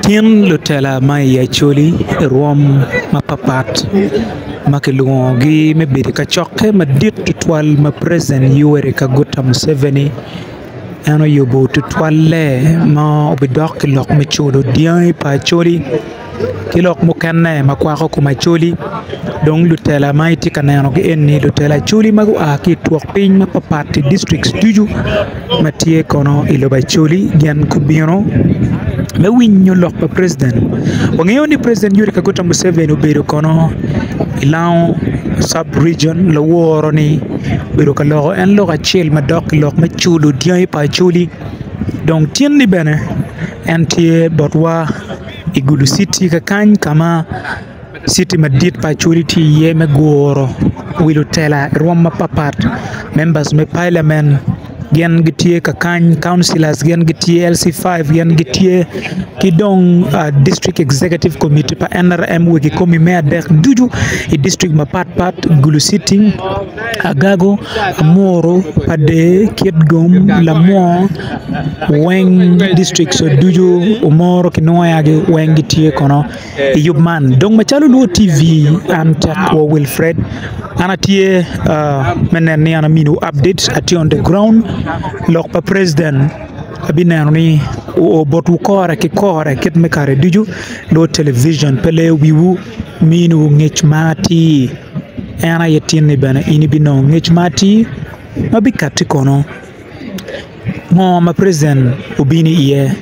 Tin lutela ma i Acholi i rwom mapapat ma kilwongogi me bedo i kacokke madit tutwal ma preciden Yoweri Kaguta Muceveni en oyubo tutwalle ma obidok ki lok me culo dyangi pa Acholi ki lok mukene ma kwako kom Acholi dong lutela ma itye ka nenogi eni lutela Acholi ma gua ki i twok piny mapapat i dictrict ducu. ma tye kono i lobo Acholi gin gubino me winyo lok pa president. Wangeyo ni president Yoweri Kaguta Museveni obedo kono i Lango sub region laworo ni obedo ka loko en lok acel madok ki lok me culo dyangi pa Acholi dong tin ni bene en tye botwa i Gulu city kakany ka ma Citi madit pa Acholi tye iye me guro wi lutela i rwom mapatpat, members me Parliament gin gitye ka kany, councilors gin gitye, LC five gin gitye ki dong district executive committee pa NRM wa kikomi me adek ducu i district mapatpat, Gulu citi, Agago, Amuru, Padee, Kitgum, Lamwo, weng districts ducu Omoro ki Nwoyagi weng gitye kono. I yub man, dong macalo Luo TV, an Tekwo Wilfred, an atye me neno ni an aminiwu updates, atye on the ground, lok pa president abineno ni oo botwu kore ki kore kit me kare ducu, Luo Television pe leyo wiwu, miniwu ngec ma atir, en aye tin ni bene in ibinongo ngec ma atir ma bikatti kono. Ngo ma president obino iye?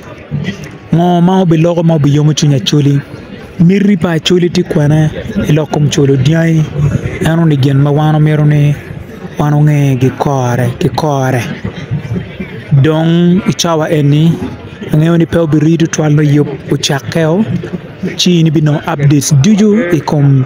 Ngo ma obiloko ma obiyomo cwiny Acholi? Miti pa Acholi tye kwene i lok kom cwalo dyangi? Eno ni gin ma wan omyero ni wan onge gikore ki kore dong i cawa eni angeyo ni pe obiriyo tutwal nongo yub ocakke o ci in ibinongo updates ducu i kom